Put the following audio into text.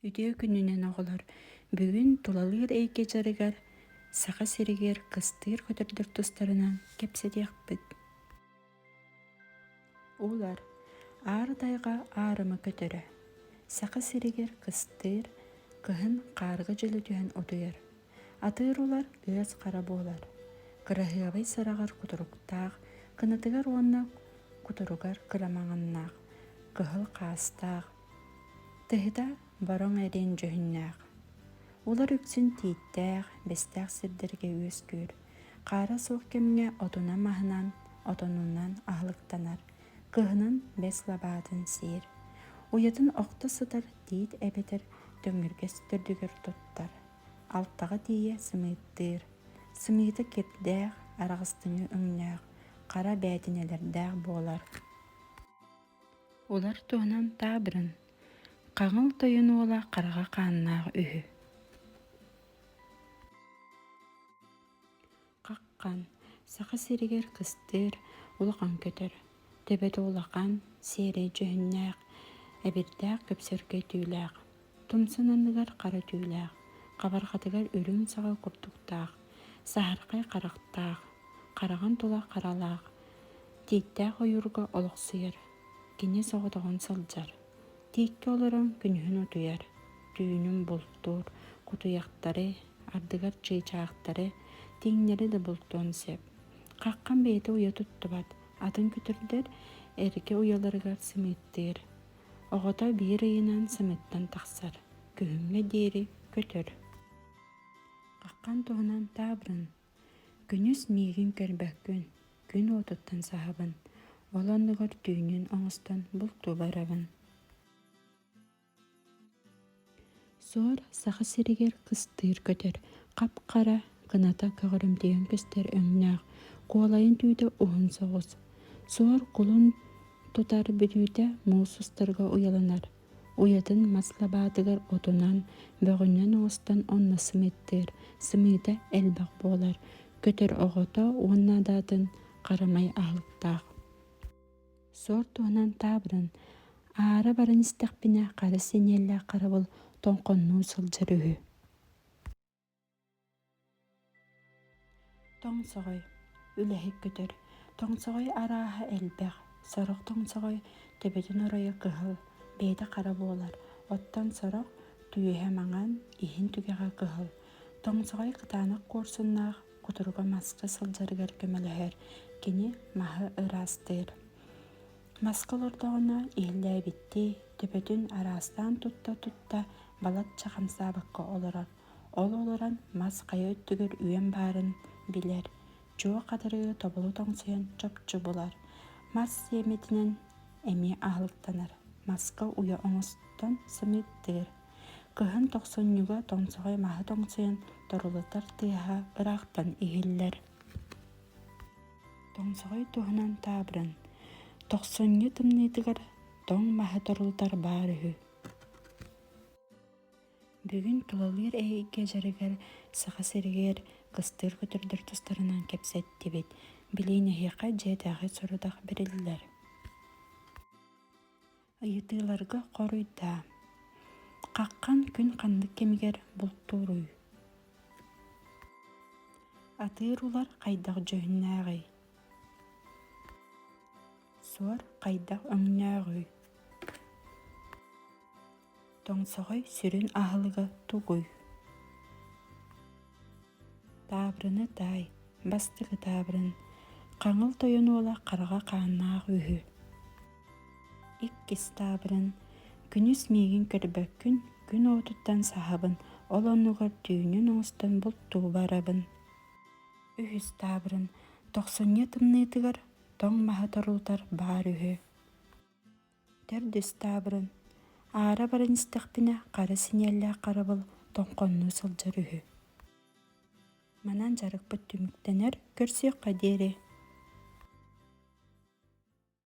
Үтүө күнүнэн оҕолор! Бүгүн тулалыыр эйгэ дьарыгар Саха сиригэр кыстыыр көтөрдөр тустарынан кэпсэтиэхпит. Улар Аар тайга аарыма көтөрө. Саха сиригэр кыстыыр, кыһын хаарга дьөлө түһэн утуйар. Атыыр улар ыас хара буолар. Кыраһыабай сараҕар кутуруктаах, кынатыгар уонна кутуругар кырамаҕыннаах, кыһыл хаастаах, Тэһитэ Бороҥ эриэн дьүһүннээх. Улар үксүн тииттээх, бэстээх сирдэргэ үөскүүр. Хаара суох кэмҥэ отунан-маһынан, отонунан аһылыктанар, кыһынын бэс лабаатын сиир. Уйатын охто сытар тиит эбэтэр төҥүргэс төрдүгэр туттар. Алтаҕа тиийэ сымыыттыыр. Сымыыта кирдээх, араҕыстыҥы өҥнөөх, хара бээтинэлэрдээх буолар. Улар туһунан таабырын Хаҕыл тойон уола хараҕа хааннаах үһү Хаххан Саха сиригэр кыстыыр, улахан көтөр, төбөтө улахан, сиэрэй дьүһүннээх, эбирдээх көпсөргө этиилээх Тумсан анныгар хара түүлээх, хабарҕатыгар үрүҥ саҕа курдуктаах, саһархай харахтаах, хараҕын тула харалаах, тииттээх ойуурга олохсуйар, кини соҕотоҕун сылдьар, тииккэ олорон күнүһүн утуйар, түүнүн бултуур, кутуйахтары, ардыгар чыычаахтары, тииҥнэри да бултуон сөп. Хаххам бэйэтэ уйа туттубат, атын күтүрдэр эргэ уйаларыгар сымыыттыыр, Оҕото биир ыйынан сымыттан тахсар, күһүҥҥэ диэри көтөр. Хаххан туһунан таабырын. Күнүс миигин көрбөккүн, күн уотуттан саһабын, ол оннугар түүнүн оҥостон бултууларабын. Суор Саха сиригэр кыстыыр көтөр, хап-хара, кыната көҕөрүмтүйэн көстөр өҥнөөх, куолайын түүтэ уһун соҕус. Суор кулун тутар бүтүүтэ муус устарга уйаланар. Уйатын мас лабаатыгар отунан, бөҕүнэн оҥостон онно сымыйдыыр, сымыыта элбэх буолар. Көтөр оҕото уонна даатын харамай аһылыктаах. Сор туһанан таабырын, аара баран истэхпинэ хара синиэллээх харабыл тоҥхоннуу сылдьар үһү. Тоҥсоҕой үлэһик көтөр. Тоҥсоҕой арааһа элбэх. Сорох тоҥсоҕой төбөтүн оройо кыһыл, бэйэтэ хара буолар. Оттон сорох түөһэ маҥан, иһин түгэҕэ кыһыл. Тоҥсоҕой кытаанах куорсуннаах, кутуруга маска сылдьарыгар көмөлөһөр, кини маһы ыраастыыр. Маска олордоҕуна иһиллээбиттии, төбөтүн араастаан тутта-тутта балачча хамсаабакка олорор. Ол олорон мас хайа өттүгэр үөн баарын билэр, чуо хатырыы тобулу тоҥсуйан чопчу булар. Мас сиэмэтинэн эмиэ аһылыктанар. Маска уйа оҥостон сымыыттыыр. Кыһын тохсунньуга тоҥсоҕой маһы тоҥсуйан торулутар тыаһа ыраахтан иһиллэр. Тоҥсоҕой туһунан таабырын тохсунньу тымныытыгар тоҥ маһы торулутар баар үһү. Бүгүн тулалыыр эйгэ дьарыгар Саха сиригэр кыстыыр көтөрдөр тустарынан кэпсэттибит. Билин эһиэхэ дьиэтээҕи сорудах бэриллэр. Ыйытыыларга хоруйдаа. Хаххан күн ханнык кэмигэр бултууруй? Атыыр улар хайдах дьүһүннээҕий? Суор хайдах өҥнөөҕүй? тоҥсоҕой сүрүн аһылыга тугуй таабырыны таай бастакы таабырын хаҥыл тойон уола хараҕа хааннаах үһү иккис таабырын күнүс миигин көрбөккүн күн уотуттан саһабын ол оннугар түүнүн оҥостон бултууба арабын үһүс таабырын тохсунньу тымныытыгар тоҥ маһы торуутар баар үһү Төрдүс таабырын аара баран истэхпинэ хара синиэллээх харабыл тоҥхоннуу сылдьар үһү. Манан дьарыкпыт түмүктэнэр, көрсүөххэ диэри